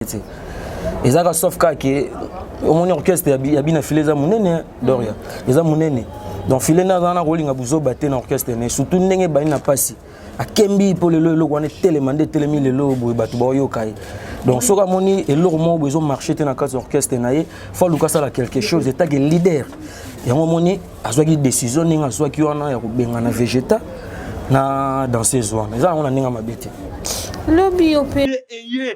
te eza ka sauf kaka ke omoni orchestre ya bina file eza monene doria eza monene donc file nde aza na kolinga buzoba te na orchestre ne surtout ndenge ebandi na mpasi akembi mpo lelo eloko wana etelema nde etelemi lelo boye bato baoyoka ye donc soki amoni eloko moko boye ezomarche te na kati ya orchestre na ye fo aluka asala quelque chose etake leader yango omoni azwaki décision ndenge azwaki wana ya kobengana vegeta na danseuse wana eza yango na ndenge mabe te lobi yo mpe eye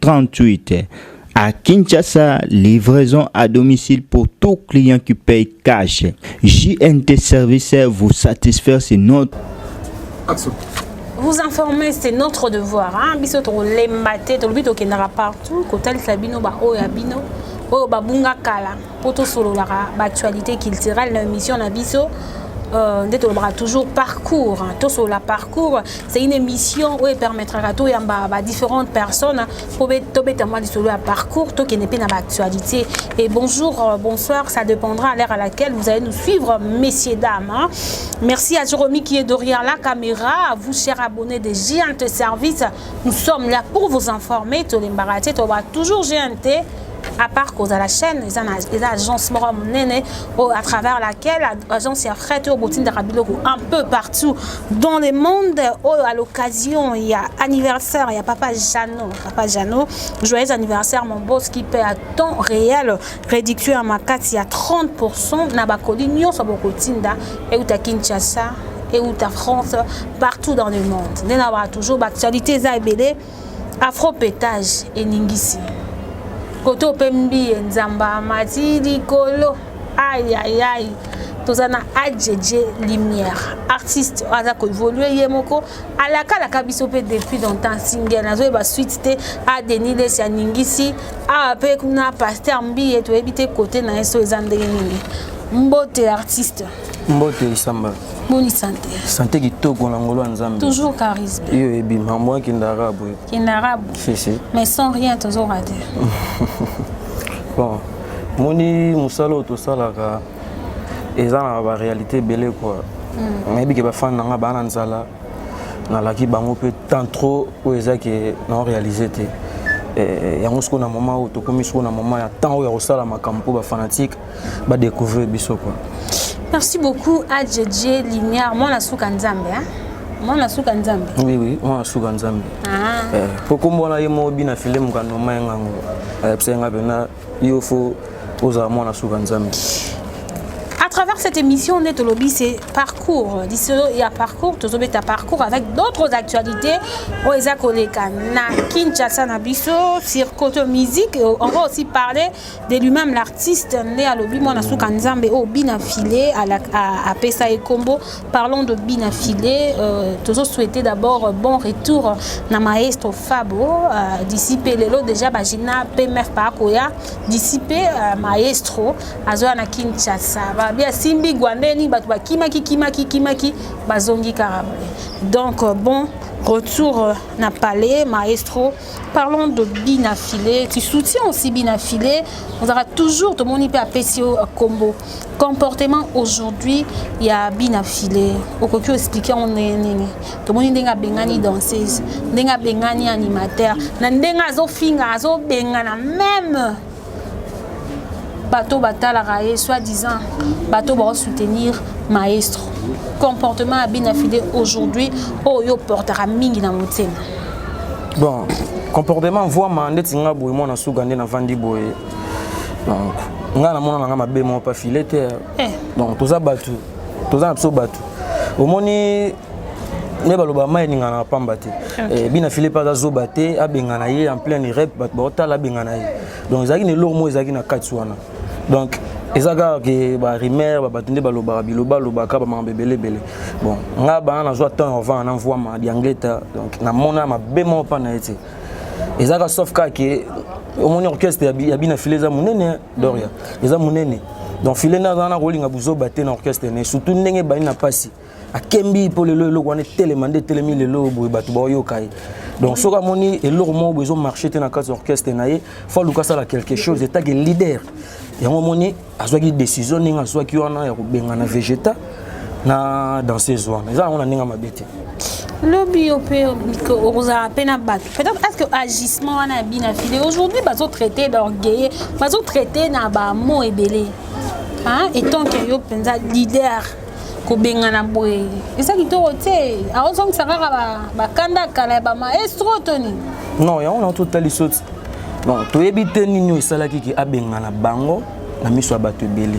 38. À Kinshasa, livraison à domicile pour tout client qui paye cash. JNT Service vous satisfaire, c'est notre... Action. vous informer c'est notre devoir hein? biso tokolemba te tolobi tokendaka partout kotalisa bino baoyo ya bino oyo babunga kala mpo tosololaka baactualité culturelle na émission na biso Euh, nde tolobaka toujours parcours tosolola parcours c'est une émission oyo epermettraka toyamba badifférentes personnes mpo tobeta mwa lisolo ya parcours tokende mpe na baactualité et bonjour euh, bonsoir ça dépendra à l'heure à laquelle vous allez nous suivre messieurs dames hein. merci à Jérôme qui est derrière la caméra à vous chers abonnés de GNT Service nous sommes là pour vous informer tolembaka te tolobaka toujours GNT à part cause à la chaîne eza na eza agence moko monene oyo à travers laquelle agence ya fret oyo botindaka biloko un peu partout dans le monde oyo à l'occasion ya anniversaire ya papa Jeannot papa Jeannot joyeux anniversaire mon boss qui paie à temps réel réduction ya makasi ya 30% na bakoli nyonso bokotinda euta Kinshasa euta France partout dans le monde nde na ba toujours ba actualité eza ebele afro petage eningisi kote ope mbiye nzamba amati likolo ayayai toza na adj lumière artiste aza koévolue ye moko alakalaka biso mpe depuis longtemps single nazoyeba suite te adeni lesi aningisi awa mpe kuna paster mbiye toyebi te kote na ye so eza ndenge nini mbote artiste mbote nsamba boni sante sante kitoko na ngolo ya nzambe toujours charisme iyo ebima mwa kindarabu kindarabu si si mais sans rien tozo rate bon moni mosala oyo tosalaka eza na baréalité ebele kua hmm. nayebi ke bafani na ngai baa na nzala nalaki bango mpe temps trop oyo eza ke nao réalise te eh, yango sikoyo na moment oyo tokomi sikoyo na moment ya temps oyo ya kosala makambo mpo bafanatike ba découvrir biso quoi merci beaucoup adjedje lumière mwana suka nzambe hein? mwana suka nzambe oui oui mwana suka nzambe ah. eh, po kombo wana ye moko bina file mokano ma yanga yango ayebisa yanga mpena yo fo ozala mwana suka nzambe À travers cette émission, on est au lobby, c'est parcours. Il y a parcours, tout le parcours avec d'autres actualités. On les a collés na Kinshasa, na Bisso, sur côté musique. On va aussi parler de lui-même l'artiste nde alobi mwana suka nzambe oyo oh, bina file apesa ye nkombo parlons de bina file euh, tozo souhaite d'abord bon retour na maestro fabo euh, d'ici mpe lelo déjà bagina pmf baakoya d'ici mpe euh, maestro azoya na kinshasa babi asimbi gwandeni bato bakimaki kimaki kimaki bazongi kaka donc bon retour na palais maestro parlons de bina filet tu soutiens aussi bina filet ozalaka toujours tomoni mpe apesi yo combo comportement aujourd'hui ya bina filet okoki oexplike yango ndenge nini tomoni ndenge abengani danseuse ndenge abengani animateur na ndenge azofinga azobengana meme bato batalaka ye soit disant bato bakosoutenir maestro comportement ya bina fide aujourd'hui oyo yo oportaka mingi na motema bon comportement voima ndeti nga boye mwana suga nde navandi boye donc nga namona na nga mabe moko pa file te eh. donc toza bato toza na biso bato omoni nde baloba mai eningana na pamba te eh, bina filipe aza zoba te abengana ye en plein irep bato baotala abengana ye donc ezalaki na eloko moko ezalaki na kati wana donc eza kaka ke barimaire babato nde balobaka bilobalobaka bamakambo ebele ebele bon nga bana nazwa temps avant na mvuama diangleta donc namona mabe moko mpa na ye te eza kaka sauf kaka ke omoni orchestre ya bina file eza monene doria eza munene donc filet na zana kolinga buzoba te na orchestre ne surtout ndenge bani na pasi akembi mpo lelo eloko wana etelema nde etelemi lelo boye bato baoyoka ye donc soki amoni eloko moko boye ezomarche te na kati ya orchestre na ye fo aluka asala quelque chose etake leader yango omoni azwaki décision ndenge azwaki wana ya kobengana vegeta na danseuse wana eza yango na ndenge mabe te lobi yo mpe okozala mpe na bato peut-être est ce que agissement wana ya bina fide aujourd'hui bazotraite d'orgueille bazotraite na bamo ebele etant ke yo mpenza leader kobengana boye eza kitoko te aozongisa kaka bakanda kala ya bamaestro to nini non yango na totali soti bon toyebi te nini oyo esalaki ke abengana bango na miso ya bato ebele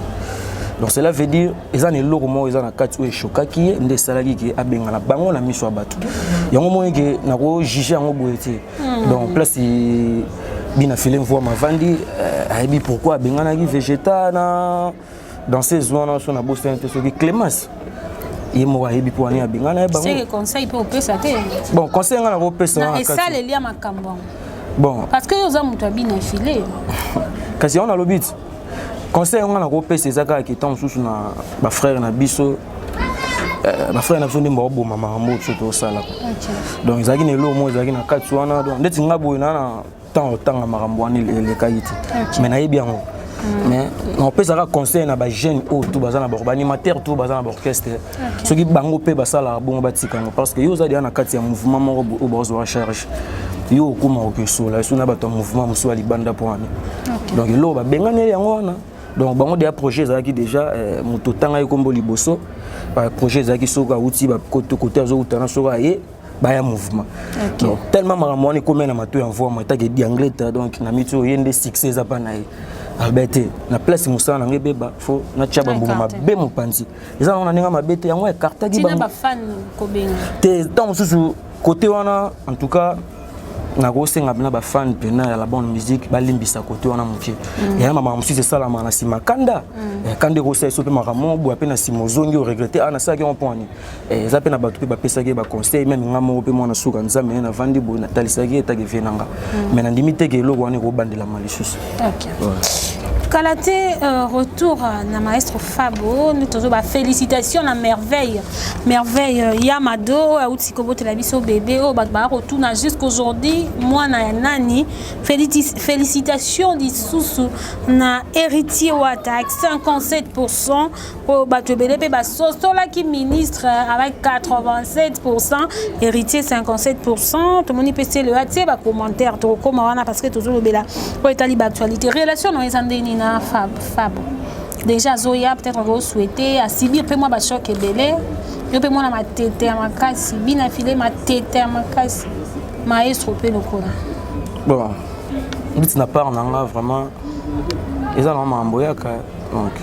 donc cela veut dire eza na eloko moko eza na kati oyo eshokaki ye nde esalaki ke abengana bango na miso ya bato yango moni ke nakojuge yango boye te hmm. donc place bina file mvua mavandi euh, ayebi pourquoi abenganaki vegeta na danseuse wana so na bosani te soki clemence ye moko ayebi mpo wani abenga na ye bango conseil mpe opesa te bon conseil ngai nakopesa na esaleli ya makambo yango bon parce que yo oza moto ya bina file kasi yango nalobi ti conseil yango ngai nakopesa eza kaka ke ntango mosusu na bafrère na biso euh, bafrère na biso nde baoboma makambo oyo biso tosala donc ezalaki na eloko moko ezalaki na kati wana donc ndeti ngai boye naa ntango otanga makambo wana elekaki te mais nayebi yango mm. mais napesaka conseil na bajeune oyo oh, tu baza na baanimateur tu baza na baorchestre soki bango mpe basalaka bongo batika yango parce que yo oza deya na kati ya mouvement moko oyo oh, bazwa charge yo okoma okesola esu na bato ya mouvement mosusu ya libanda mpo wana donc eloko babenganeli yango wana donc bango deya projet ezalaki déjà eh, moto otangaki nkombo liboso projet ezalaki soki awuti kote azowuta na soki aye baya mouvement okay. donc tellement makambo wana ekomi na mato ya mvua moi etaki edi anglais ta donc na miti oyo ye nde succès eza mpa na ye albe te na place mosala nango ebeba fo natya bambuma mabe mopanzi eza nango na ndenge mabe te yango ekartaki te ntango mosusu kote wana en tout cas nakosenga mpena bafane mpena ya la bonne musique balimbisa kote wana moke mm. yaya mama mosusu esalama na nsima kanda mm. eh, kanda ekosala eso mpe makambo boya mpe na nsima ozongi oregrete a ah, nasalaki yango mpo ani Eh, eza mpe na bato mpe bapesaki ye baconseil meme nga moko mpe mwana suka nzambe ne navandi boye natalisaki ye etake vie na nga mm. mais nandimi teke eloko wana ekobandelama lisusu kala te euh, retour euh, na maestro fabo nde tozo bafélicitation na merveille merveille euh, ya mado oyo auti kobotela biso bebe oyo bato baya kotuna jusqu'aujourd'hui mwana ya nani félicitation lisusu na héritier wata 57 oyo bato ebele mpe basosolaki ministre avec 87 pourcent héritier 57 pourcent tomoni mpe selo ya tie bacommentaire tokokóma wana parce que tozolobela oyo etali baactualité relation na eza ndeni na fab fab déjà azoya peut-être okosouhaite asibir mpe mwa bachoc ebele yo mpe mwana matete ya makasi bina file matete ya makasi maestro mpe lokola bon biti na part na nga vraiment eza na makambo yaka donc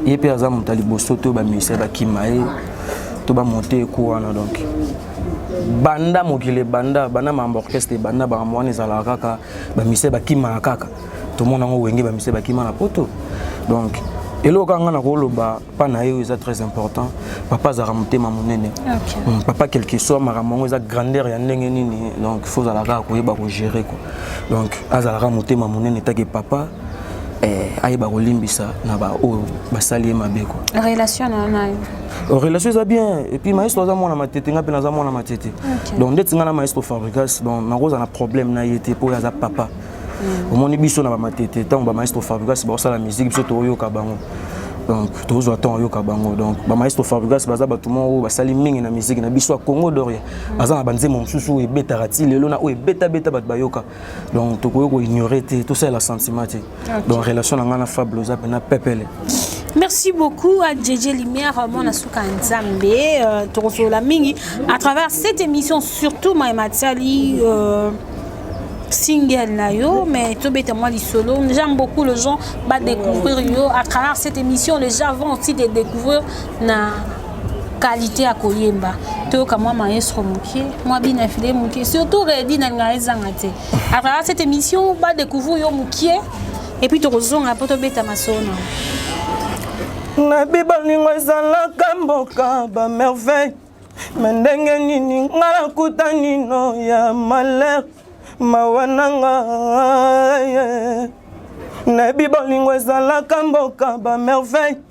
ye mpe aza moto ya liboso to bamusicien bakima ye to bamonte eko wana donc banda mokili ebanda banda makambo orchestre ebanda makambo wana ezalaka kaka bamusicien bakimaka kaka tomona yango wenge bamusicien bakima na poto donc eloko kaka ngai nakoloba mpa na ye oyo eza très important papa azalaka motema monene hmm, papa quelque soit makambo yango eza grandeur ya ndenge nini donc fo ozalaka koyeba kogere ko donc azalaka motema monene take papa eh, ayeba kolimbisa na baoyo basali ye mabe kwa relation na nayo euh, relation eza bien epuis maestro aza mwana matete ngai mpe naza mwana matete donc ndeti ngai na maestro fabricas donc nakozala na problème na ye te mpo oyo aza papa mm. omoni biso na bamatete ntango bamaestro fabricas bakosala musike biso toyoka bango donc tozwa temps oyoka bango donc bamaestro fabrigas baza bato moko oyo basali mingi na miziki na biso ya congo doria baza na banzembo mosusu oyo ebetaka ti lelo na oyo ebetabeta bato bayoka donc tokoki koignore te tosalela sentiment te donc relation na ngai na fable oza mpena pepele merci beaucoup à Djedje Lumière mwana suka nzambe euh, tokosolola mingi à travers cette émission surtout maye matiali euh, single na yo mais tobeta mwa lisolo j'aime beaucoup les gens va découvrir yo à travers cette émission les gens vont aussi te découvrir na qualité ya koyemba toyoka mwa maestro moke mwa bina file moke surtout redi nalinga ezanga te à travers cette émission badecouvrir yo moke et puis tokozonga mpo tobeta masolo na nabi baningo ezalaka mboka bamerveille me ndenge nini nga nakuta nino ya malheur mawa nanga nayebi bolingo ezalaka mboka bamerveille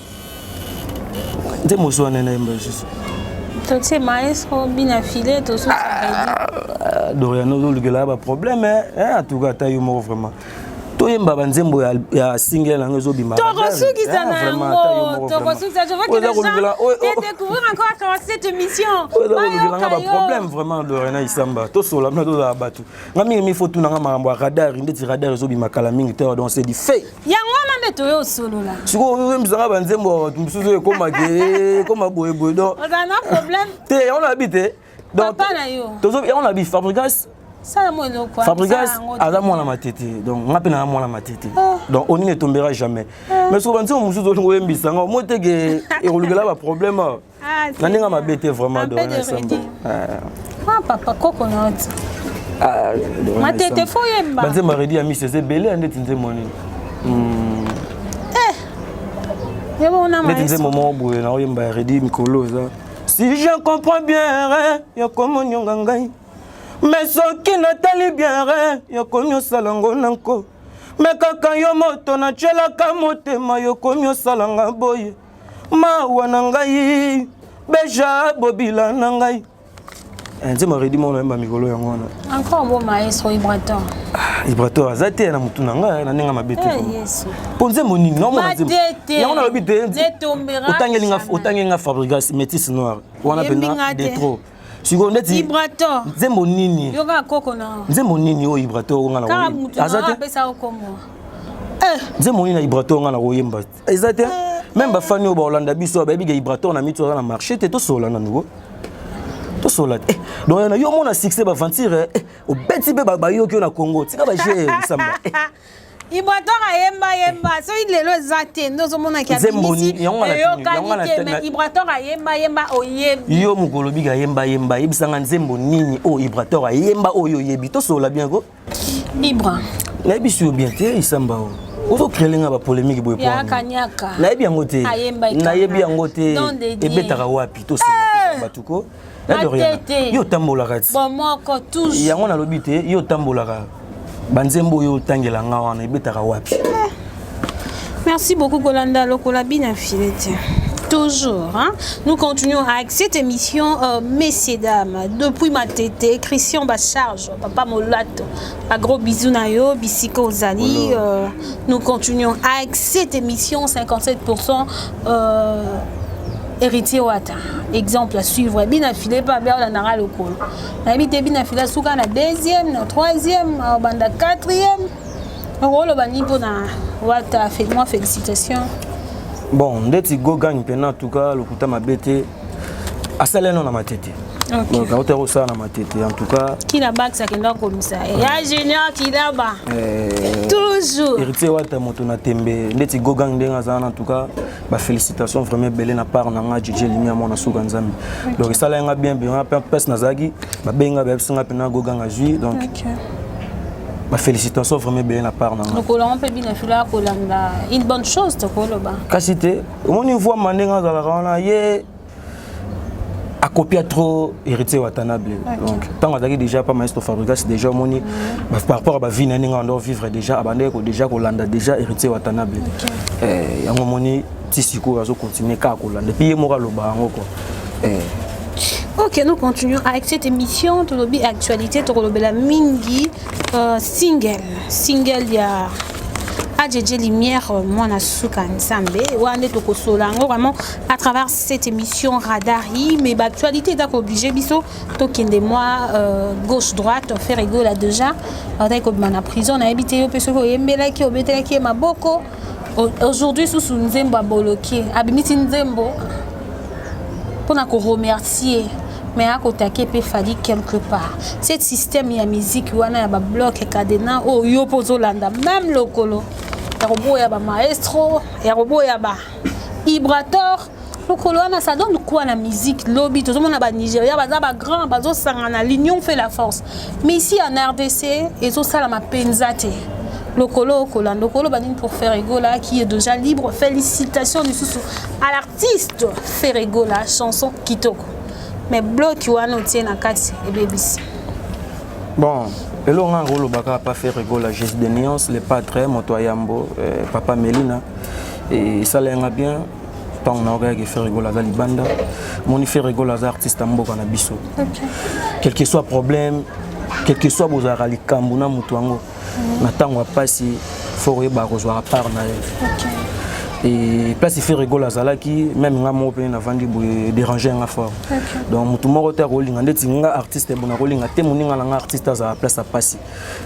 nze mosu wana nayemba lisusu totie maestro bina file tosusu ah, dorian ozolukelaka baproblème eh? eh, atuka ata yo moko vraiment toyemba banzembo ya single na yango ezobima tokosukisa na yango tokosukisa je vois que les gens oh, oh. découvrir encore à travers cette émission oyoka ba problème vraiment de Rena Isamba to sola mna to za batu nga mingi mi faut tuna nga mambo ya radar ndeti radar ezobima kala mingi te donc c'est du fait yango wana nde toyo osolola sikoyo oyembisanga banzembo ya bato mosusu ekoma ke ekoma boyeboye do ozala na problème te yango nayebi te papa na yo tozo yango nayebi fabrigas fabrigas aza mwana matete donc nga mpe naza mwana matete ah. donc onini etombera jamais ah. mais soki banzembo mosusu olingo oyembisanga omoteke ekolukela baproblème Ah, na ndenge mabe te vraiment dorenasembo ah, papa koko noti ah, matete fo yemba banze maredi ya misi eza ebele ya ndeti nzembo nini hmm. eh. ndeti nzembo moko boye na oyemba ya redi mikolo eza si je comprends bien re yokomonionga ngai me soki natali bien re yokomi osala ngo na nko me kaka yo moto natyelaka motema yokomi osalanga boye mawa na ngai beja bobila na ngai eh, nzemba redi moko nayemba mikolo yango wana encore bo maestro ibrator ah, ibrator aza te na motu na ngai na ndenge mabe te eh, mpo nzembo nini naomonayango nalobi te otangi nga fabrigas métis noir wana mpena de trop sikoyo ndeti ibrator nzembo nini yoka koko na nzembo nini oyo ibrator onga na aza te nzembo nini na ibrator onga na koyemba te eza te meme bafani oyo baolanda biso bayebi ga ibrator na mitu aza na marché te tosola na nouveau tosola te eh, donc na yo omona succès baventure eh, obeti mpe bayoki yo na congo tika baje lisamba eh. ibrator ayemba yemba soki lelo eza te nde ozomonaki abinisiyokani te mais ibrator ayemba yemba oyebi yo mokolo bika ayemba yemba yebisanga nzembo nini oyo ibrator ayemba oyo oyebi tosola bien ko Ibra. Nayebi si yo bien te isamba o. Oh. Ozo créer nga ba polémique boye pona. Ya kanyaka. Nayebi yango te. Nayebi yango te. Ebetaka wapi to sima eh! bato ko. Matete. Yo tambolaka ti. Bomoko tous. Yango nalobi te yo tambolaka. Banzembo yo tangela nga wana ebetaka wapi. Eh. Merci beaucoup Kolanda Lokola Bina Filete. Toujours, hein? nous continuons avec cette émission, euh, messieurs, dames, depuis ma tété, Christian Bacharge, Papa Molato, un gros bisou Nayo, Bissiko Zali, euh, nous continuons avec cette émission, 57%. Euh, héritier wata exemple à suivre bina filé pas bien la nara local na bité bina filé souka na deuxième na troisième banda quatrième okoloba nini mpo na wata mwa félicitation bon ndeti gogang mpena tuka lokuta mabe te asala eno na matete donc auta kosala na matete en tout cas kila bax akenda kokomisa ya junior kilaba eh, toujours héritier wata moto na tembe ndeti gogang ndenge aza wana en tout cas ba félicitations vraiment ebele na part na nga Djidje Limia mwana suka nzambe donc esala yanga bien bien na pes nazalaki babengi nga bayebisi nga mpena goganga zwi donc ba félicitations vraiment ebele na part na nga lokolanga mpe bino efila kolanda une bonne chose tokoloba kasi te omoni mvua mande nga azalaka wana ye akopia trop héritier watanabe donc ntango azalaki déjà pa maestro fabrigas déjà omoni par rapport ya bavie na ndenge ando vivre déjà abandaki ko déjà kolanda déjà héritier watanabe eh, yango omoni ti sikoyo azocontinue kaka kolanda epuis ye moko aloba yango kua eh. Ok, nous continuons avec cette émission. Tout l'objet actualité, tout l'objet mingi euh, single, single il y a Adjedje Lumière, euh, moi na suka nsambe. Wande toko solango vraiment à travers cette émission Radar I, mais l'actualité est obligée, biso, tokende moi, euh, gauche, droite, faire ego là déjà, on a comme la prison, on a habité au Pesoko, Yembela qui obété qui est ma boko. Aujourd'hui, sous sous Nzembo à Boloké, abimiti Nzembo, pour nous remercier. mais akotake mpe fali quelque part cette système ya miziki wana ya babloke cadena oyo yo mpo ozolanda meme lokolo ya koboya bamaestro ya koboya ba Ibrator mokolo wana ça donne quoi na musique lobi tozomona ba Nigeria baza ba grand bazosangana l'union fait la force mais ici en RDC ezosalama mpenza te lokolo okola lokolo banini pour Ferregola qui est déjà libre félicitations lisusu à l'artiste Ferregola chanson kitoko mais bloki wana otie na kati ebebisi Bon, eloko nga koloba kaka pa faire gola jesus de nuance le patre moto ya yambo eh, papa melina esala yanga bien ntango na okayaki faire gola aza libanda moni faire gola aza artiste ya mboka na biso quelque soit problème quelque soit bozalaka likambo na moto yango na ntango ya mpasi fort oyebaka kozwaka part na ye et place ife rigole azalaki meme nga moko mpe navandi boye dérange nga fort donc motu moko te akolinga ndeti nga artiste bo nakolinga te moninga na nga artiste azala place ya mpasi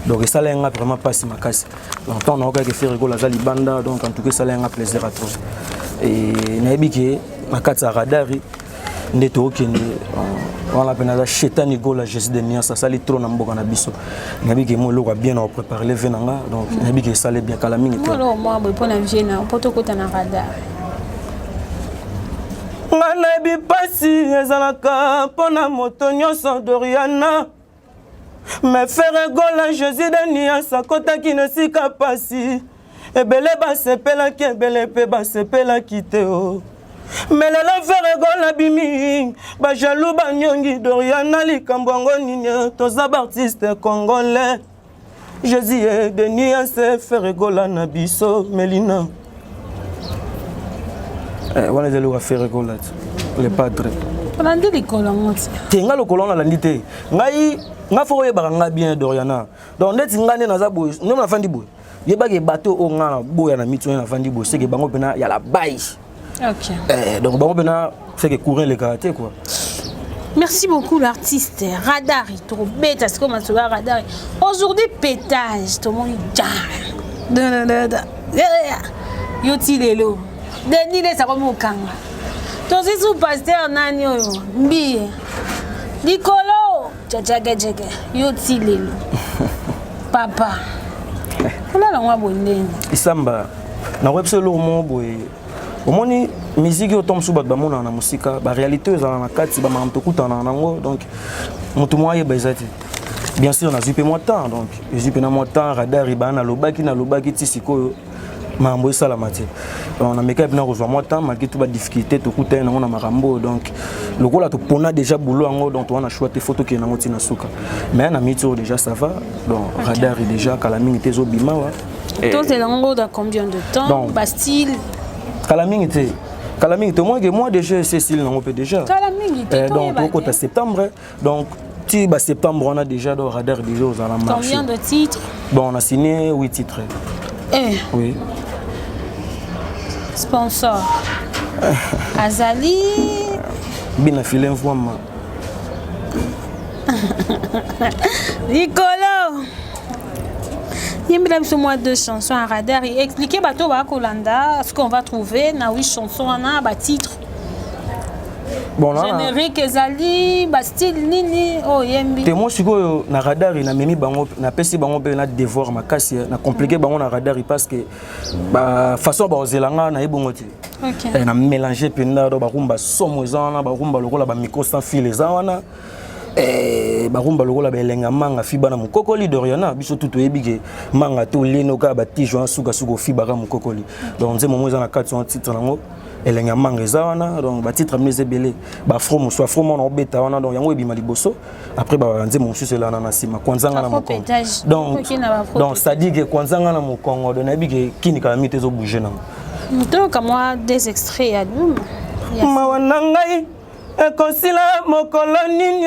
donc esala nga vraiment mpasi makasi donc ntango naokaki efe rigole aza libanda donc en tout cas esala nga plaisir à trop et nayebi ke na kati ya radari nde tokende euh, wana mpe naza chetani gola jesus de niance asali trop na mboka na biso nayebi ke mo eloko ya bien na koprépare le vie na nga donc nayebi ke esali bien kala mingi te mpo na vie na mpo tokota na radar nga nayebi mpasi ezalaka mpo na moto nyonso doriana me fere gola jésus de nias akotaki na esika mpasi ebele basepelaki ebele mpe basepelaki te o oh. me lelo fere gola bimi bajalou banyongi doriana likambo yango nini toza baartiste congolais Jésus est de nuance faire gola na biso Melina. Eh, wana ezali wa faire gola le padre. Olandi likolo yango ti. Te nga lokolo wana alandi te. Ngai nga fo oyebaka nga bien Doriana. Donc ndeti nga nde naza boye, nde nafandi boye. Yebaka bato oyo nga na boya na mitu nde nafandi boye, seke bango mpena ya la baye. Ok. Eh, donc bango bena fait que courir les karaté quoi. Merci beaucoup l'artiste Radari tokobeta sikoyo masolo ya Radari aujourd'hui pétage tomoni ja Da, da, da, da. Ya, ya, ya. yo ti lelo denis lesa komi kokanga tozwi su paster nani oyo mbiye likolo jajagejege yo ti lelo papa olala yango aboye ndenge isamba nakoyebi biso eloko moko boye omoni miziki oyo to mosusu bato bamonaka na mosika baréalité oyo ezalaka na kati bamakambo tokutanaka nango donc moto moko ayeba eza te bien sûr nazwi mpe mwa temps donc ezwi mpe na mwa temps radar ebaa nalobaki nalobaki ti sikoyo makambo esalama te donc namekaki mpena kozwa mwa temps malgré tout badifficulté tokutani nango na makambo oyo donc lokola topona déjà boulot yango donc towana choix te fo tokende yango ntina suka mais na miti oyo déjà ça va donc radar e déjà kala mingi te ezobima wa tozela yango dans combien de temps bastyle kala mingi te kala mingi te omonike mois de jeu ese esili nango mpe déjà donc tokota septembre donc ti ba septembre wana déjà do radar déjà ozala marché combien de titres bon on a signé 8 titres eh oui sponsor azali bina filet mvwama likolo yembela biso mwa deux chansons ya radar expliquer bato bakolanda ce qu'on va trouver na wi chanson wana batitre bon, générique ezali bastyle nini oyo oh, yembi te moi sikoyo na radari namemi bango napesi bango mpe na devoir makasi eh, na compliqué bango na radari parce que façon bakozela nga naye bongo te okay. Eh, na mélange mpenza do barumba somo eza wana barumba lokola bamicro sans fil eza wana Eh, barumba lokola baelenga manga fiba na mokokoli doriana biso tu toyebi ke manga to lenoka batijo wana sukasuka ofibaka mokokoli donc nzembo yango eza na kati wana titre yango elengi ya manga eza wana donc batitre mino eza ebele bafro mosusu afro mwana obeta wana donc yango ebima liboso après banzembo mosusu elana na nsima kwanzanga na mokongo donc sadike kwanzanga na mokongo do nayebi ke kini kala mito ezobouge nango toyoka mwa des extraits ya duma mawa na ngai ekosila mokolo nini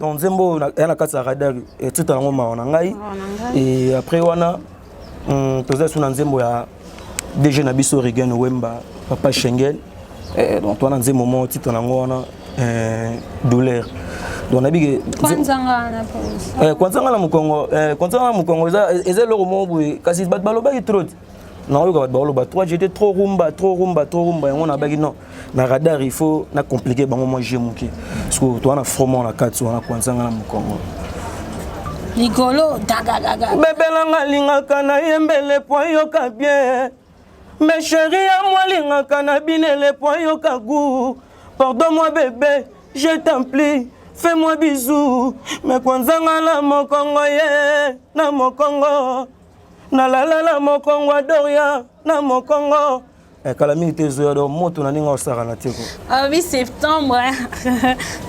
donc nzembo oyo ya na kati ya radar titre yango mawa na ngai et après wana hmm, toza su na nzembo ya dg na biso regen wemba papa schengen eh, donc wana nzembo moko titre yango wana eh, douleur donc nayebi ke kwanzanga na mokongo kwanzanga na mokongo eza eloko moko boye kasi bato balobaki trop nakoyoka bato bakoloba 3 jete trop rumba trop rumba trop rumba yango nabaki non na radar il faut na compliqué bango mwa jeu moke parceke toa na fromo na kati wana kwanzanga na mokongo likolo dagadaga bebelanga alingaka na ye mbele po ayoka bien me sheri ya mwa alingaka na binele po ayoka gu pardon mwa bebe je templi fais moi bisou me kwanzanga na mokongo ye na mokongo nalala na mokongo ya doria na mokongo eh, kala mingi te ezoya do moto na ndenge osakana te ko ah oui septembre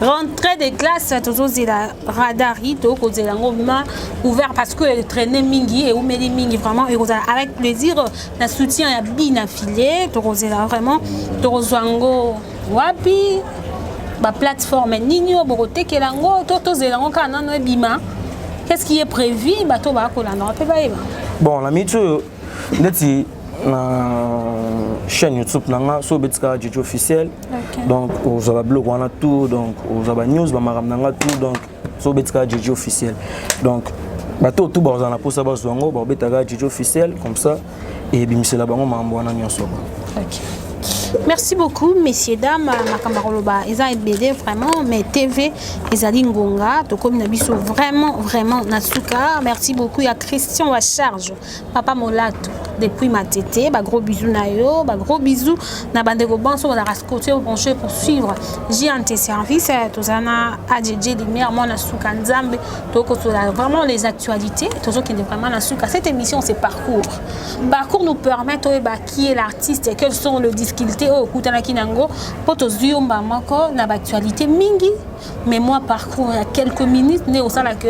rentrée de classe tozozela radar yi tokozela yango ma ouvert parce que etraine mingi eumeli mingi vraiment ekozala avec plaisir na soutien ya bina filet tokozela vraiment tokozwa yango wapi ba plateforme nini oyo bokotekela yango to tozela yango kaka nano ebima qu'est-ce qui est prévu bato bakolandaka mpe bayeba bon na miniti oyo ndeti na chaîne youtube na nga so obeti kaka jeje officiel donc ozwa babiloko wana tout donc ozwa banews bamakambo na nga tout donc so obeti kaka jeje officiel donc bato oyo tu bakozala na mposa bazwa yango bakobeta kaka jeje officiel comme ça ebimisela bango makambo wana nyonso okay. merci beaucoup messieurs dames makambo akoloba eza ebele vraiment mais tv ezali ngonga tokomi na biso vraiment vraiment na suka merci beaucoup ya christian wa charge papa molato depuis matete ba gros bisous na yo ba gros bisous na bandeko banso bazalaka scotio branche pour suivre jnt service eh, tozala na adj lumière mwana suka nzambe tokosola vraiment les actualités tozokende vraiment na suka cette émission c'est parcours parcours nous permet toyeba qui est l'artiste quelles sont les difficultés oyo okutanaki nango mpo tozwi yo mba moko na baactualité mingi mais moi parcours ya quelques minutes nde osala que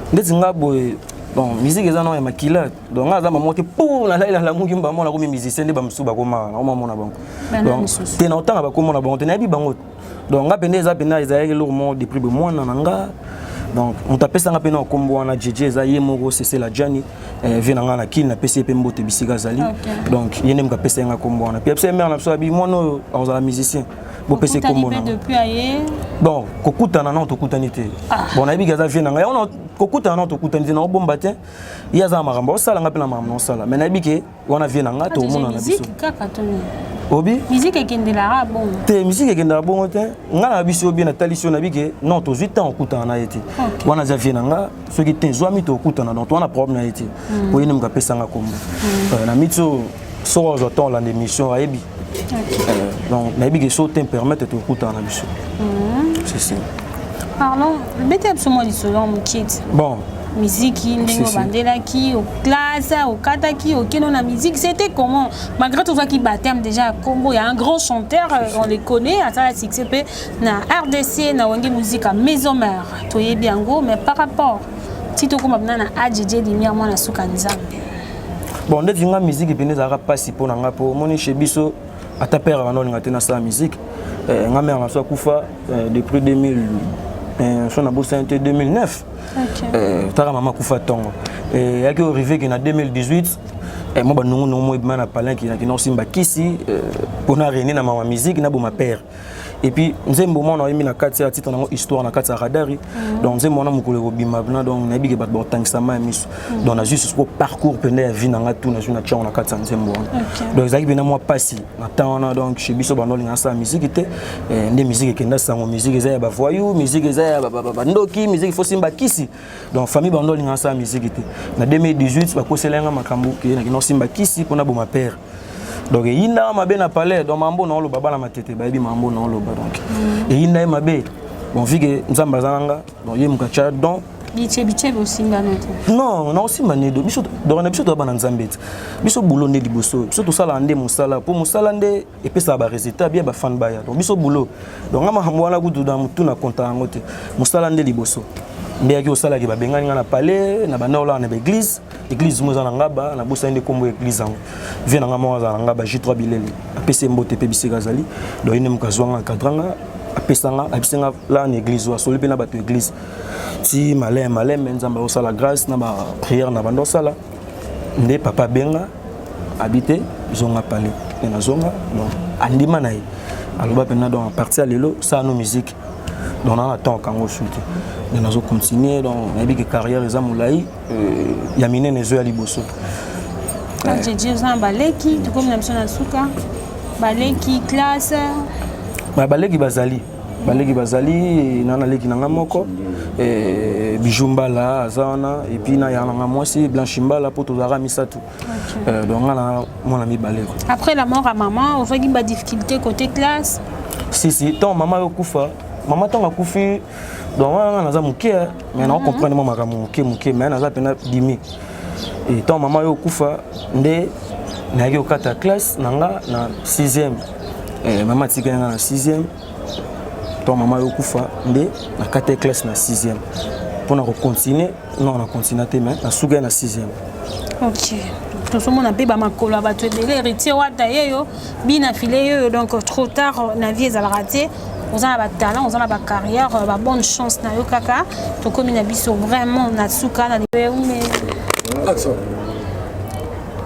ndeti nga boye bon musique eza nao ya makila donc nga aza mamo te po nalali nalamuki mbamo nakomi musicien nde bamosusu bakomaka nakomamona bango te na otanga bakomona bango te nayebi bango donc nga mpenza eza mpenza ezalaki eloko moko depuis be mwana na nga donc moto apesanga mpe na okombo wana jeje eza ye moko sesela jani eh, vie na ngai na kini napesi ye mpe mbote bisika azali donc ye nde moto apesaki nga kombo wana mpe apesa ye mare na biso abi mwana oyo akozala musicien bopesa ekombo na bon kokutana nao tokutani te ah. bon nayebi ke aza vie na ngai yango kokutana nao tokutani te naobomba te ye aza na makambo osala ngai mpe na makambo naosala mais nayebi ke wana vie na ngai tokomonana biso obi miziki ekendelaka bongo te miziki ekendelaka bongo te ngai na biso obi natalisi yo nayebi ke non tozwi ntango okutana na ye te wana aza vie na ngai soki te zwami tokutana donc towana problème na ye te hmm. oyende moto apesanga kombo hmm. euh, na miti oyo soki ozwa temps olanda émission ayebi euh, donc nayebi ke so te permettre tokutana na biso hmm. sesi pardon beta biso mwa lisolo ya mokie ti bon miziki ndenge obandelaki oklasa okataki okeno na miziki c'était comment malgré tozwaki baptême déjà ya nkombo ya un grand chanteur euh, on le connaît asala succès mpe na rdc na wenge muzika maison mère toyebi yango mais par rapport ti tokoma mpena na adjidie lumière mwana suka nzambe bon ndeti nga miziki mpena ezalaka mpasi mpo na nga mpo omoni chez biso ata père wana olinga te nasala miziki eh, nga mère na so akufa eh, depuis 2000 eh, so nabosani te 2009 taka mama akufa ntongo eyaki orive ke na 2018 mwa banongonongo moyebima na palenki nakina kosimba kisi mpona rene na mama miziki naboma père et puis nzembo mwana oyembi na kati ya titre nango histoire na kati ya radari mhm. donc nzembo wana mokolo ekobima bina donc nayebi ke bato bakotangisama ya miso mhm. donc nazwi susuko parcours mpenda ya vie na ngai tu nazwi na tiango na kati ya nzembo wana donc ezalaki mpena mwa mpasi na temps wana donc chez biso bando olinga nasala miziki te eh, nde miziki ekenda sango miziki eza ya bavoyou miziki eza ya bandoki miziki fo simba kisi donc famille bando olinga nasala miziki te na 2018 bakosela yanga makambo ke nakenda osimba kisi mpona boma père donc eyinda mabe na palais donc mambo na oloba bana matete bayebi mambo na oloba donc mm. eyinda ye mabe bon vu que nzambe aza na nga donc ye moka tya don non nakosimba nde biso donc na biso toya bana nzambe te biso bulo nde liboso biso tosalaka nde mosala mpo mosala nde epesaka baresultat bia bafane baya donc biso bulo donc nga makambo wana kutu na motu na konta yango te mosala nde liboso nde yaki osalaki babengani nga na palais na banda olaka na baeglise église mo eza na ngaba na bosani nde kombo église yango vie na nga moko azala na ngaba J3 bilele apesi mbote pe bisika azali donc ine moka zwanga akadrang apesanga abisenga la na église oyo asoli mpe na bato église ti malin malin me nzambe akosala grâce na baprière na banda osala nde papa abenga abi te zonga pale e nazonga donc andima na ye aloba mpenza donc aparti ya lelo salano musique donc naa na temps akango osu te nde nazocontinue donc nayebi ke carrière eza molai ya minene ezoya liboso jiji oza na baleki tokomi na biso na suka baleki classe baleki bazali baleki bazali na naleki na ngai moko eh, bijou mbala aza wana epuis na ya na ngai mwasi blanchi mbala mpo tozalaka misato eh, donc ngai na mwana mibale après la mort ya mama ozwaki badifficulté côté classe si si ntango mama yokufa mama ntango akufi donc wana nga naza moke mais nao mhm. comprendre mwa makambo moke moke mais naza mpena bimi etant mama yo okufa nde nayaki kokata classe na nga na 6e eh, mama atikali nga na 6e to mama yo okufa nde nakata classe na 6e mpo na kocontinue Non, na continua te mais na suga na 6e. OK. tozomona mpe bamakolo ya bato ebele héritier wata ye yo bina file ye yo donc trop tard na vie ezalaka te oza na batalent oza na bacarrière babonne chance na yo kaka tokómi na biso vraiment na suka na lieume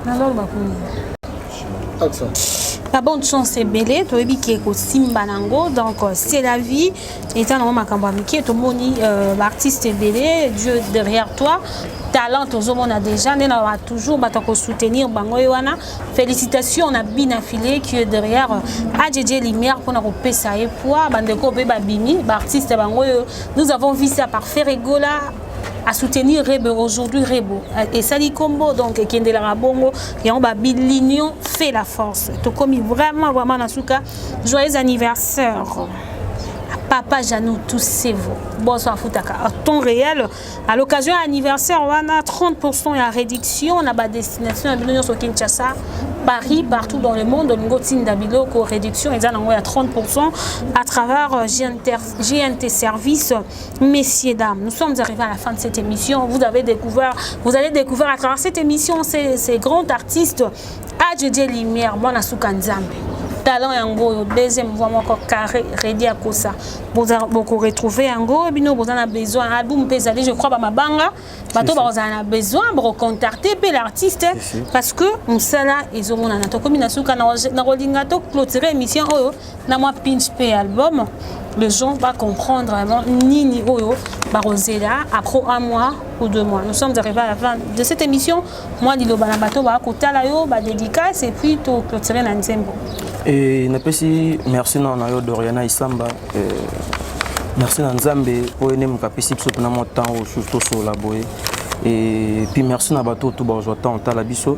naloloba kuni babonne chance ebele toyebi ke kosimba na yango donc c'est la vie eza nango makambo ya mike tomoni euh, baartiste ebele dieu derrière toi talent tozomona déjà nde na toujours bato ya kosoutenir bango ye wana félicitation na bina filet qui est derrière euh, adjedje lumière mpona kopesa ye poids bandeko mpe babimi baartiste bango oyo nous avons vu ça par ferregola à soutenir Rebe aujourd'hui Rebo et Sali Combo donc Kende la Rabongo et on babi l'union fait la force. Tokomi vraiment vraiment Nasuka joyeux anniversaire. papa Jeannot Toussevo boso afutaka en temps réel à l'occasion anniversaire wana 30% ya réduction na ba destination ya bino nyonso Kinshasa Paris partout dans le monde olingo tinda biloko réduction eza nango ya 30% à travers GNT, euh, GNT service messieurs dames nous sommes arrivés à la fin de cette émission vous avez découvert vous allez découvrir à travers cette émission ces, ces grands artistes Adjodje Lumière, mwana suka Nzambe. Talent yango oyo deuxième voix moko carré Reddy Akosa. Boza boko retrouver yango bino boza na besoin album pe ezali je crois ba mabanga bato ba kozala na besoin boko contacter pe l'artiste parce que musala ezo monana tokomi na suka na kolinga to clôturer émission oyo na mwa pinch mpe album les gens va comprendre vraiment nini oyo bakozela après un mois ou deux mois nous sommes arrivés à la fin de cette émission moi liloba na bato bakotala yo badédicace et puis toclotire na nzembo e napesi merci nao na yo doriana isamba e, merci na nzambe mpo ene moto apesi biso mpena mwa temps oyo susu tosolola boye e puis merci na bato oyo to bazwa temps otala biso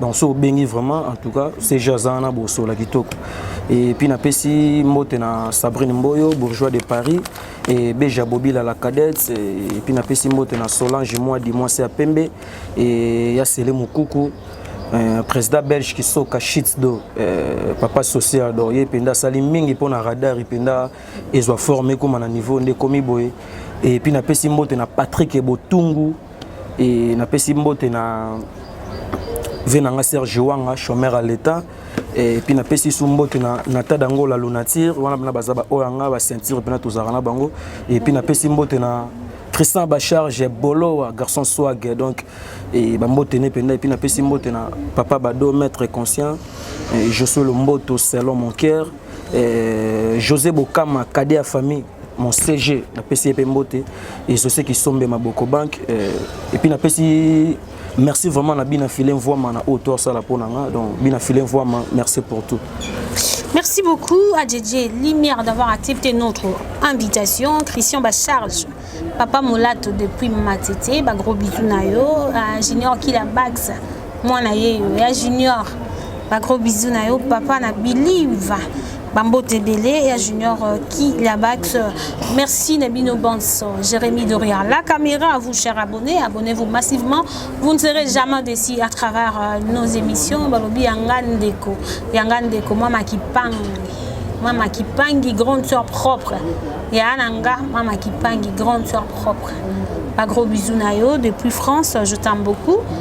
donc soki obengi vraiment en tout cas cg aza wana bosola kitoko et puis napesi mbote na sabrine mboyo bourgeois de paris et beja bobila la cadette et puis napesi mbote na solange mwadi mwasi ya pembe et ya sele mokuku Euh, président belge kisoka shit do euh, papa social do ye mpenza asali mingi mpo na radar mpenza ezwa forme ekóma na niveau nde ekomi boye epuis napesi mbote na patrik botungu Et na pesi mbote na vie na nga Serge Wanga chômeur à l'état et puis na pesi su mbote na na tada ngo la lunature wana bana baza ba oyo nga ba ceinture pena tozaka na bango et puis na pesi mbote na Tristan Bacharge Bolo garçon swag donc et ba mbote ne penda et puis na pesi mbote na papa Bado maître conscient et Josué Lomboto selon mon cœur José Bokama cadet à famille mon CG napesi ye mpe mbote ezose kisombe maboko banque euh, epuis napesi merci vraiment na bina file mvwama na oyo to asala mpo na nga donc bina file mvwama merci pour tout Merci beaucoup à DJ Lumière d'avoir accepté notre invitation. Christian Bacharge, Papa Molato depuis Matete, bah, gros bisous nayo, à Junior Kilabax, mwana yeyo ya junior ba gros bisous na yo papa na believe bambote ebele ya junior euh, ki labax euh, merci na bino banso jérémie doria la caméra à vous cher abonné abonnez-vous massivement vous ne serez jamais déçu à travers euh, nos émissions balobi yanga ndeko yanga ndeko mama kipangi mama kipangi grande soeur propre ya na nga mama kipangi grande soeur propre ba gros bisous na yo depuis france je t'aime beaucoup